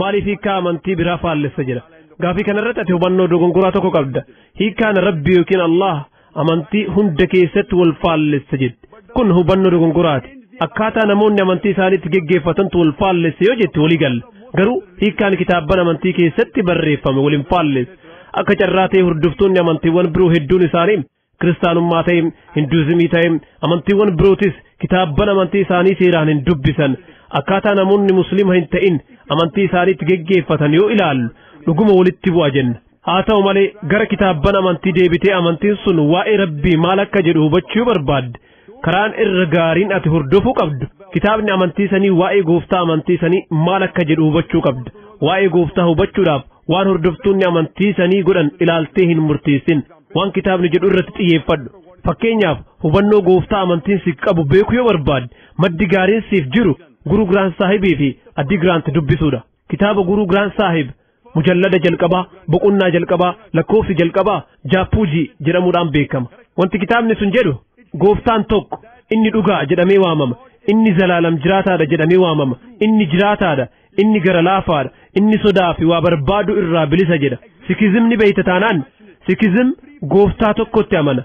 Maaliif hiikkaa amantii biraa faallessa jedha? Gaafii kanarratti ati hubannoo dogongoraa tokko qabda. Hiikkaan Rabbi yookiin Allah amantii hunda keessatti wal faallessa jedhe. Kun hubannoo dogongoraati. Akkaataa namoonni amantii isaaniitti geggeeffatantu wal faallessa yoo jette walii galla. Garuu hiikkaan kitaabban amantii keessatti barreeffame wal hin faallessa. Akka carraa ta'e hordoftoonni amantiiwwan biroo hedduun isaanii kiristaanummaa ta'e hinduuzimii ta'e amantiiwwan birootis kitaabban amantii isaanii seeraan hin dubbisan akkaataa namoonni musliima hin ta'in amantii isaaniitti geggeeffatan yoo ilaallu dhuguma walitti bu'a jenna haa ta'u malee gara kitaabban amantii deebitee amantiin sun waa'ee rabbii maal akka jedhu hubachuu barbaadde karaan irra gaariin ati hordofuu qabdu kitaabni amantii sanii waa'ee gooftaa amantii sanii maal akka jedhu hubachuu qabda waa'ee gooftaa hubachuudhaaf waan hordoftoonni amantii sanii godhan ilaaltee hin murteessin waan kitaabni jedhu irratti xiyyeeffadhu fakkeenyaaf hubannoo gooftaa amantiin siif qabu beekuu yoo barbaadde maddi gaariin siif jiru guruu giraant saahibii fi addi giraant dubbisuudha kitaaba guruu giraant saahib mujallada jalqabaa boqonnaa jalqabaa lakkoofsi jalqabaa jaappuujii jedhamuudhaan beekama wanti kitaabni sun jedhu gooftaan tokko inni dhugaa jedhamee waamama inni zalaalam jiraataadha jedhamee waamama inni jiraataadha inni gara laafaadha inni sodaa fi waa barbaadu irraa bilisa jedha sikizimni beeyta taanaan sikizim gooftaa tokkotti amana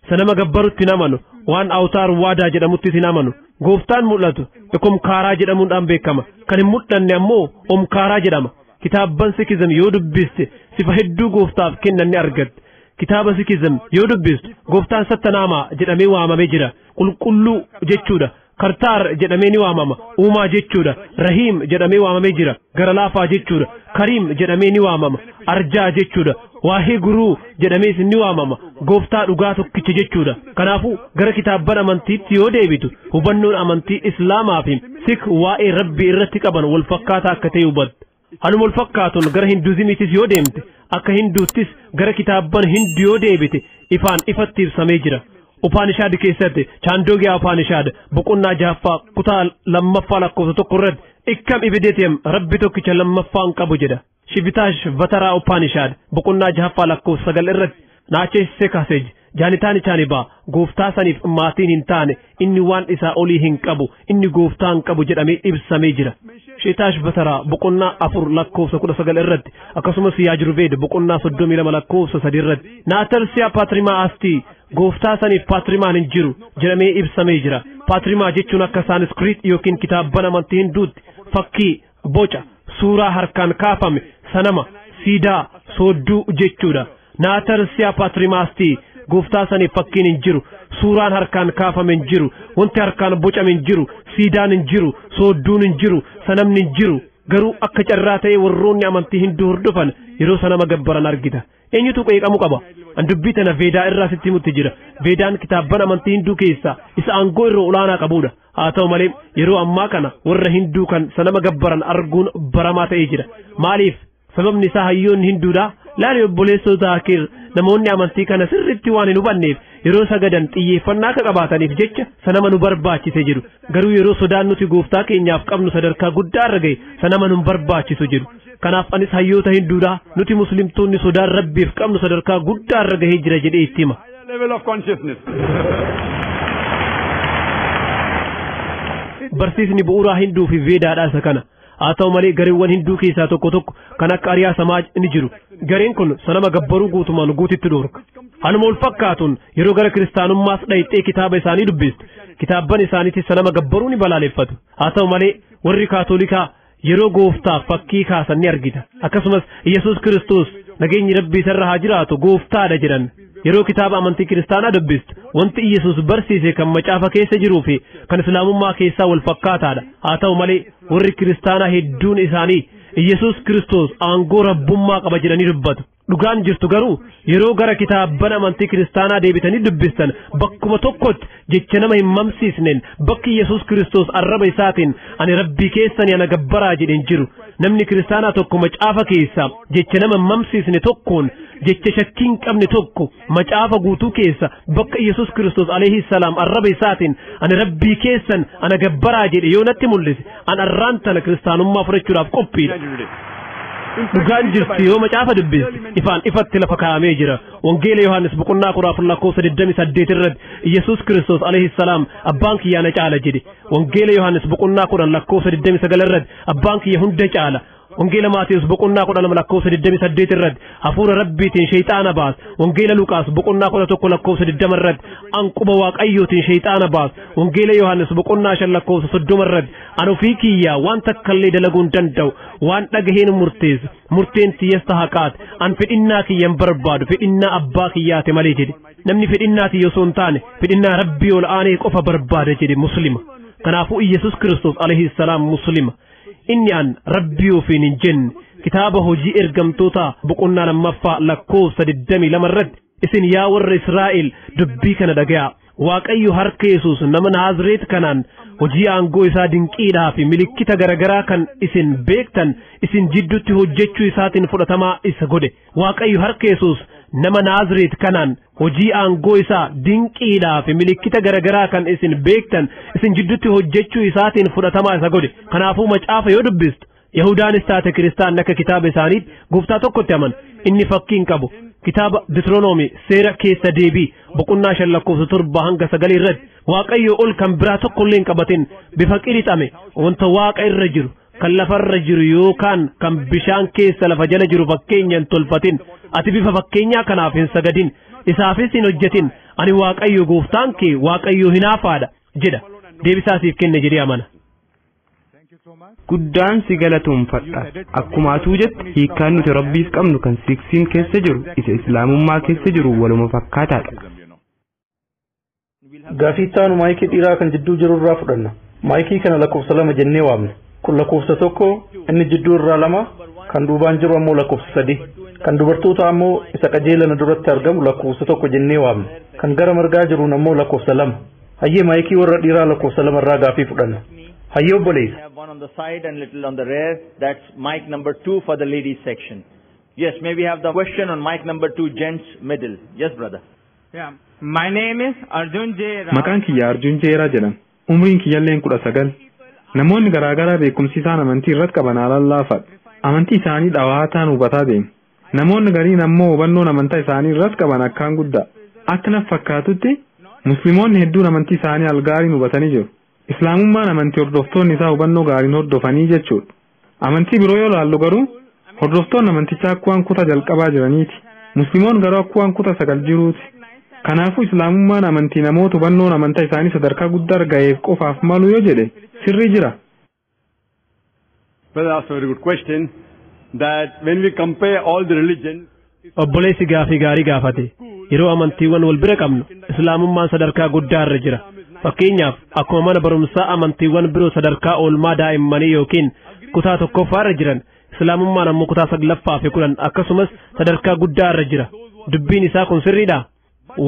sanama gabbarutti hin amanu waan awtaar waadaa jedhamuttis hin amanu gooftaan mul'atu ekomkaaraa jedhamuudhaan beekama kan hin mul'anne ammoo omkaaraa jedhama kitaabban sikizim yoo dubbiste sifa hedduu gooftaaf kennan ni argatte kitaaba sikizim yoo dubbistu gooftaan sattanaamaa jedhamee waamamee jira qulqulluu jechuudha Kartaar jedhamee ni waamama. Uumaa jechuudha. Rahiim jedhamee waamamee jira. Gara laafaa jechuudha. Kariim jedhamee ni waamama. Arjaa jechuudha. Waahee guruu jedhamees ni waamama. Gooftaa dhugaa tokkicha jechuudha. Kanaafuu gara kitaabban amantiitti yoo deebitu hubannoon amantii Islaamaa fi Sik waa'ee Rabbii irratti qaban wal fakkaataa akka ta'e hubatta. Haluma wal fakkaatuun gara Hinduuzimiitis yoo deemte, akka Hinduuttis gara kitaabban Hindu yoo deebite ifaan ifatti ibsamee jira. Upaanishaad keessatti Chaandogyaa Upaanishaad boqonnaa jahaffaa kutaa lammaffaa lakkoofsa tokko irratti Ikkam Ibidetyam Rabbi tokkicha lammaffaan qabu jedha. Shivitaash Vataraa Upaanishaad boqonnaa jahaffaa lakkoofsa sagal irratti Naachesise Kasej, Janitani Chaniba, Gooftaa saniif maatiin hin taane, inni waan isaa olii hin qabu, inni gooftaa hin qabu jedhamee ibsamee jira. Sheetaash Bataraa boqonnaa afur lakkoofsa kudha sagal irratti akkasumas Yaajruveed boqonnaa soddomii lama lakkoofsa sadii irratti Naatarsiyaa Paatrimaa Astii gooftaa saniif paatrimaan hin jiru jedhamee ibsamee jira. Paatrimaa jechuun akka saaniskiriit yookiin kitaabban amantii hinduutti fakkii boca suuraa harkaan kaafame sanama siidaa soodduu jechuudha naatarsiyaa paatrimaastii gooftaa saniif fakkiin hin jiru suuraan harkaan kaafame hin jiru wanti harkaan bocame hin jiru siidaan hin jiru soodduun hin jiru sanamni hin jiru garuu akka carraa ta'ee warroonni amantii hinduu hordofan yeroo sanama gabbaran argita Eenyutu qeeqamu qaba? An dubbii tana Veedaa irraa sitti himutti jira. Veedaan kitaabban amantii Hinduu keessaa isa aangoo irra olaanaa qabudha. Haa ta'u malee yeroo ammaa kana warra Hinduu kan sanama gabbaran arguun baramaa ta'ee jira. Maaliif? Sababni isaa hayyoonni Hinduudhaa laali obboleessoo Zaakir namoonni amantii kana sirriitti waan hin hubanneef yeroo sagadan xiyyeeffannaa akka qabaataniif jecha sanama nu barbaachise jedhu. Garuu yeroo sodaan nuti gooftaa keenyaaf qabnu sadarkaa guddaa irra ga'e sanama nu hin barbaachisu jedhu. Kanaaf anis hayyoota Hinduudhaa nuti muslimtoonni sodaan Rabbiif qabnu sadarkaa guddaa irra gahee jira jedhee itti hima. level of consciousness. Barsiisni bu'uuraa Hinduu fi Veedaadhaa isa kana. Haa ta'u malee gareewwan Hinduu keessaa tokko tokko kan akka Ariyaa Samaaj ni jiru. Gareen kun sanama gabbaruu guutumaan guutitti dhorka. Haaluma wal fakkaatuun yeroo gara kiristaanummaas dhayxee kitaaba isaanii dubbistu. Kitaabban isaaniitis sanama gabbaruu ni balaaleffatu. Haa ta'u malee warri kaatolikaa yeroo gooftaaf fakkii kaasan ni argita akkasumas yesus kiristoos nageenyi rabbii isarra haa jiraatu gooftaadha jedhan yeroo kitaaba amantii kiristaanaa dubbistu wanti yesus barsiise kan macaafa keessa jiruu fi kan islaamummaa keessaa wal fakkaataadha haa ta'u malee warri kiristaanaa hedduun isaanii yesus kiristoos aangoo rabbummaa qaba jedhanii dubbatu Dhugaan jirtu garuu yeroo gara kitaabban amantii kiristaanaa deebitanii dubbistan bakkuma tokkotti jecha nama hin mamsiisneen bakki Yesuus Kiristoos arraba isaatiin ani rabbii keessanii ana gabbaraa jedheen jiru namni kiristaanaa tokko macaafa keessaa jecha nama hin mamsiisne tokkoon jecha shakkii hin qabne tokko Macaafa guutuu keessa bakka Yesus Kiristoos alayhi salaam arraba isaatiin ani rabbii keessan ana gabbaraa jedhe yoo natti mul'ise an arraan tana kiristaanummaa fudhachuudhaaf qophiidha. Dhugaan jirtu yoo macaafa dubbiste ifaan ifatti lafa kaa'amee jira. Wangeela Yohaannis boqonnaa kudha afur lakkoofsa 28 irratti Yesus Kiristoos alayhi salaam abbaan kiyyaa na caala jedhe. Wangeela Yohaannis boqonnaa kudhan lakkoofsa 29 irratti abbaan kiyya hunda caala. Wangeela Maatiyus boqonnaa kudha lama lakkoofsa digdamii saddeet irratti hafuura rabbiitiin sheeyxaana baas. Wangeela Luqaas boqonnaa kudha tokko lakkoofsa digdama irratti an quba waaqayyootiin sheeyxaana baas. Wangeela Yohaannis boqonnaa shan lakkoofsa soddoma irratti an ofii kiyyaa waan takkallee dalaguu hin danda'u waan dhagaheen murteessu murteen tiyyas ta haqaati an fedhinnaa kiyya hin barbaadu fedhinnaa abbaa kiyyaati malee jedhe namni fedhinnaa tiyya osoo hin taane fedhinnaa rabbii ol aanee qofa barbaada jedhe muslima kanaafuu Iyyasuus Kiristoos alayhi salaam muslima Inni an rabbii ofiin hin jenne kitaaba hojii ergamtootaa boqonnaa lammaffaa lakkoofsa 22 irratti isin yaa warra Israa'el dubbii kana dhagayaa. Waaqayyo harka Yesuus nama Naazireet kanaan hojii aangoo isaa dinqiidhaa fi milikkita garagaraa kan isin beektan isin jidduutti hojjechuu isaatiin fudhatamaa isa godhe. Waaqayyo harka Yesuus nama Naazireet kanaan Hojii aangoo isaa dinqiidhaa fi milikkita garagaraa kan isin beektan isin jiddutti hojjechuu isaatiin fudhatamaa isa godhe. Kanaafuu macaafa yoo dubbistu Yahudaanis taate kiristaanni akka kitaaba isaaniitti gooftaa tokkotti amana. Inni fakkii hin qabu. Kitaaba Ditiroonoomii seera keessa deebii boqonnaa shan lakkoofsa torba hanga sagalii irratti waaqayyo ol kan biraa tokkollee hin qabatin bifa qirixame wanta waaqa irra jiru kan lafarra jiru yookaan kan bishaan keessa lafa jala jiru fakkeenya hin tolfatin ati bifa fakkeenyaa kanaaf hin sagadin isaafis hin hojjetin ani waaqayyo gooftaan kee waaqayyo hinaafaadha jedha deebisaa siif kenne jedhee amana. guddaan si galatoomfadha akkuma atuu jette hiikkaan nuti rabbiif qabnu kan siksiin keessa jiru isa islaamummaa keessa jiru waluma fakkaataadha Gaafii itti aanu maayikii dhiiraa kan jidduu jiru irraa fudhanna. Maayikii kana lakkoofsa lama jennee waamna. Kun lakkoofsa tokko inni jidduu irraa lama kan duubaan jiru ammoo lakkoofsa sadii. Kan dubartoota ammoo isa qajeelana duratti argamu lakkoofsa tokko jennee waamna. Kan gara margaa jiruun ammoo lakkoofsa lama. Hayyee maayikii warra dhiiraa lakkoofsa lama irraa gaafii fudhanna. Hayyee obboleessa. have one on the side and little on the rear. That's mic number two for the ladies section. Yes, may we have the question on mic number two, gents middle. Yes, brother. Yeah. My name is Arjun J. Rao. Maqaan kiyya Arjun Jeeraa jedhama. Umriin kiyyalleen kudha sagal. Namoonni garaagaraa beekumsi isaan amantii irratti qaban haalaan laafaadha. Amantii isaanii dhawaataan hubataa deemu. Namoonni gariin ammoo hubannoon amantaa isaanii irratti qaban akkaan guddaa. Akka naf fakkaatutti Musliimoonni hedduun amantii isaanii algaariin hubatanii jiru. Islaamummaan amantii hordoftoonni isaa hubannoo gaariin hordofanii jechuudha. Amantii biroo yoo laallu garuu hordoftoonni amantichaa akkuwaan kutaa jalqabaa jiraniiti. Muslimoon garuu akkuwaan kutaa sagal jiruuti. Kanaafuu Islaamummaan amantii namoota hubannoon amantaa isaanii sadarkaa guddaarra gaheef qofaaf malu yoo jedhe sirrii jira. Brother asked a very good question that when we compare all the religions Obboleessi gaafii gaarii gaafate. Yeroo amantiiwwan wal bira qabnu, Islaamummaan sadarkaa guddaa irra jira. Fakkeenyaaf, akkuma mana barumsaa amantiiwwan biroo sadarkaa oolmaa daa'immanii yookiin kutaa tokkoffaa irra jiran, Islaamummaan ammoo kutaa saglaffaa fi kudhan akkasumas sadarkaa guddaa irra jira. Dubbiin isaa kun sirriidhaa?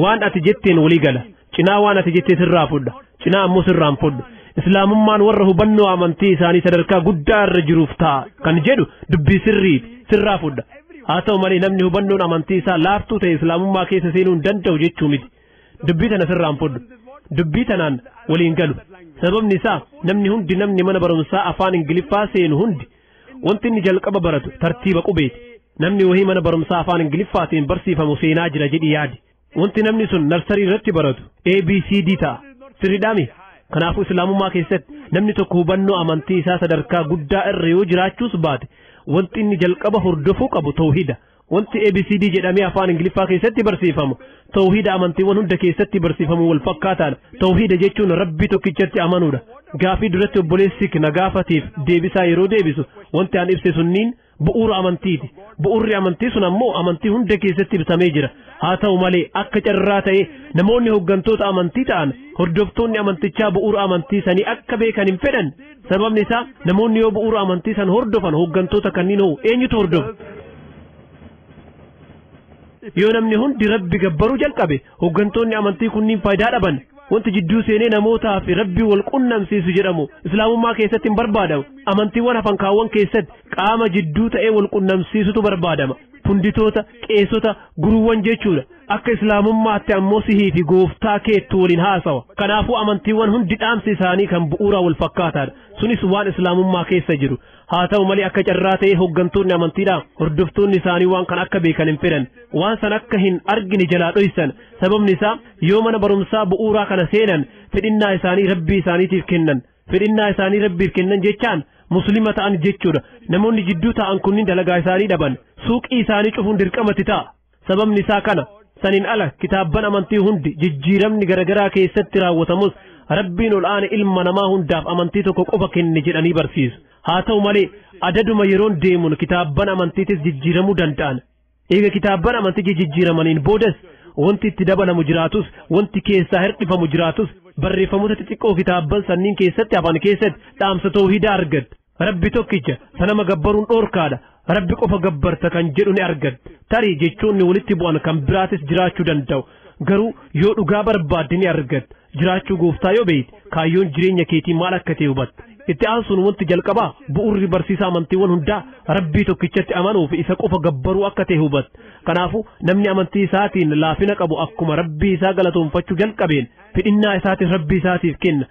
waan ati jetteen walii gala cinaa waan ati jettee sirraa fudha cinaa ammoo sirraan fudhu islaamummaan warra hubannoo amantii isaanii sadarkaa guddaa irra jiruuf ta'a kan jedhu dubbii sirriiti sirraa fudha haa ta'u malee namni hubannoon amantii isaa laaftuu ta'e islaamummaa keessa seenuu hin danda'u jechuu miti dubbii tana sirraan fudhu dubbii tanaan waliin galu sababni isaa namni hundi namni mana barumsaa afaan ingiliffaa seenu hundi Wanti inni jalqaba baratu tartiiba qubeeti. Namni wahii mana barumsaa afaan Ingiliffaatiin barsiifamu seenaa jira jedhi yaadi. Wanti namni sun narsarii irratti baratu ABCD ta'a. Sirriidhaami. Kanaafuu Islaamummaa keessatti namni tokko hubannoo amantii isaa sadarkaa guddaa irra yoo jiraachuus baate wanti inni jalqaba hordofuu qabu tawhida. Wanti ABCD jedhamee afaan Ingiliffaa keessatti barsiifamu, tawhiida amantiiwwan hunda keessatti barsiifamu wal fakkaataadha. Tawhiida jechuun Rabbii tokkichatti amanuudha. Gaafii duratti obboleessi na gaafateef deebisaa yeroo deebisu, wanti an ibse sunniin bu'uura amantiiti. Bu'uurri amantii sun ammoo amantii hunda keessatti ibsamee jira. Haa ta'u malee akka carraa ta'ee namoonni hooggantoota amantii ta'an hordoftoonni amantichaa bu'uura amantii sanii akka beekan hin fedhan. Sababni isaa namoonni yoo bu'uura amantii san hordofan hooggantoota kanniin hoo eenyutu hordofa? Yoo namni hundi rabbi gabbaruu jalqabe hooggantoonni amantii kunniin faayidaa dhaban wanti jidduu seenee namootaa fi rabbi wal qunnamsiisu jedhamu islaamummaa keessatti hin barbaadamu amantiiwwan hafan kaawwan keessatti qaama jidduu ta'ee wal qunnamsiisutu barbaadama funditoota qeesota guruuwwan jechuudha Akka Islaamummaatti ammoo sihii fi gooftaa keettu waliin haasawa. Kanaafuu amantiiwwan hundi dhaamsi isaanii kan bu'uuraa wal fakkaataadha. Sunis waan Islaamummaa keessa jiru. Haa ta'u malee akka carraa ta'ee hooggantoonni amantiidhaa hordoftoonni isaanii waan kana akka beekan hin fedhan. Waan san akka hin argine jalaa dhoysan. Sababni isaa yoo mana barumsaa bu'uuraa kana seenan fedhinnaa isaanii rabbii isaaniitiif kennan. Fedhinnaa isaanii rabbiif kennan jechaan muslima ta'an jechuudha. Namoonni jidduu taa'an kunniin dalagaa isaanii dhaban. Suuqii isaanii cufuun dirqamatti ta'a. Sababni isaa kana. Saniin ala kitaabban amantii hundi jijjiiramni garagaraa keessatti raawwatamus Rabbiin ol aane ilma namaa hundaaf amantii tokko qofa kenne jedhanii barsiisu. Haa ta'u malee adaduma yeroon deemuun kitaabban amantiitis jijjiiramuu danda'an. Eega kitaabban amantii jijjiiramaniin boodas wanti itti dabalamu jiraatus wanti keessaa hirdhifamu jiraatus barreeffamoota xixiqqoo kitaabban sanniin keessatti hafan keessatti dhaamsa toohidaa argatta. Rabbi tokkicha ta nama gabbaruun dhoorkaadha rabbi qofa gabbarta kan jedhu ni argatta tarii jechoonni walitti bu'an kan biraatis jiraachuu danda'u garuu yoo dhugaa barbaadde ni argatta jiraachuu gooftaa yoo beeyte kaayyoon jireenya keetii maal akka ta'e hubatta itti aansuun wanti jalqabaa bu'urri barsiisa amantiiwwan hundaa rabbii tokkichatti amanuu fi isa qofa gabbaruu akka ta'e hubatta kanaafuu namni amantii isaatiin laafina qabu akkuma rabbii isaa galatoonfachuu jalqabeen fidhinnaa isaatiin rabbii isaatiif kenna